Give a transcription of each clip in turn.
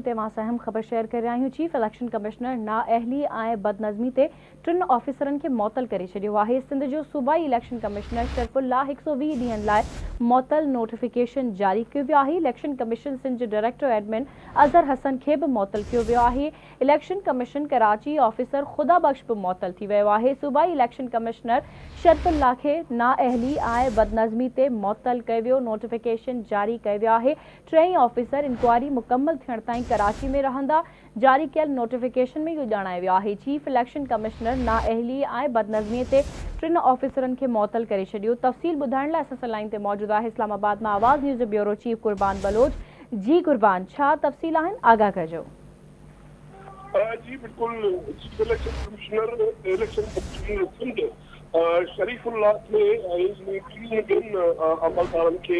تي وانس اهم خبر شيئر ڪري رهيا آهيون چيف اليڪشن ڪمشنر نااهلي ۽ بدنظمي تي ٽن آفيسرن کي معطل ڪري ڇڏيو آهي سنڌ جو صوبائي اليڪشن ڪمشنر شرف الله هڪ سؤ ويهه ڏينهن لاء معطل نوٽيفڪيشن جاري ڪيو ويو آهي اليڪشن ڪميشن سنڌ جي ڊائريڪٽر ايڊمن اظهر حسن کي به معطل ڪيو ويو آهي election commission Karachi officer Khuda Bakhsh به معطل ٿي ويو آهي صوبائي اليڪشن ڪمشنر شرف الله کي نااهلي ۽ بدنظمي تي معطل ڪيو ويو نوٽيفڪيشن جاري ڪيو ويو آهي ٽيئي آفيسر انڪوائري مڪمل ٿيڻ تائين ڪراچي ۾ رهندا، جاري ڪيل نوٽيفڪيشن ۾ اهو ڄاڻايو ويو آهي، چيف اليڪشن ڪمشنر نااهلي ۽ بدنظمي تي ٽن آفيسرن کي معطل ڪري ڇڏيو، تفصيل ٻڌائڻ لاء اسان سان لائين تي موجود آهي اسلام آباد مان آواز نيوز جو بيورو چيف قربان بلوچ، جي قربان ڇا تفصيل آهن آگاهه ڪجو. جي بلڪل chief election commissioner election commission Sindh Sharif Ullah کي ۽ ٽن ٻين عملدارن کي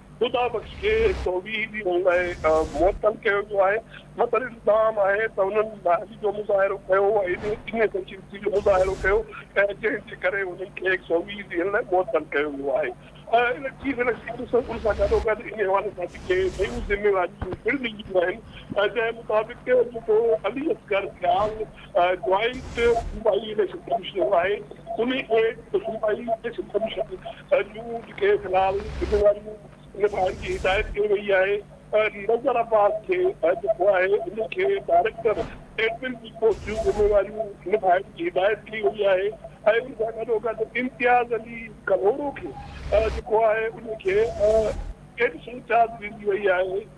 خدا بخش کي توحيدي هئڻ لاء معطل ڪيو ويو آهي، مطلب الزام آهي ته هنن لاهري جو مظاهرو ڪيو ۽ انهيء سنجيدگي جو مظاهرو ڪيو ۽ جنهن جي ڪري هنن کي توحيد ڏيڻ لاء معطل ڪيو ويو آهي ۽ چيف اليڪشن ڪميشنر ان سان گڏوگڏ انهي حوالي سان جيڪي ٻيون ذميواريون پڻ ڏنيون آهن جنهن مطابق جيڪو علي اصغر سيال جوائنٽ صوبائي اليڪشن ڪميشنر آهي، ان کي صوبائي اليڪشن ڪميشن جون جيڪي في الحال ذميواريون نڀائڻ جي هدايت ڪئي وئي آهي، نذر عباس کي جيڪو آهي ان کي ڊائريڪٽر ايڊمن جي پوسٽ جون ذميواريون نڀائڻ جي هدايت ڪئي وئي آهي ۽ ان سان گڏوگڏ امتياز علي ڪلهوڙو کي جيڪو آهي ان کي ايڊيشنل چارج ڏني وئي آهي.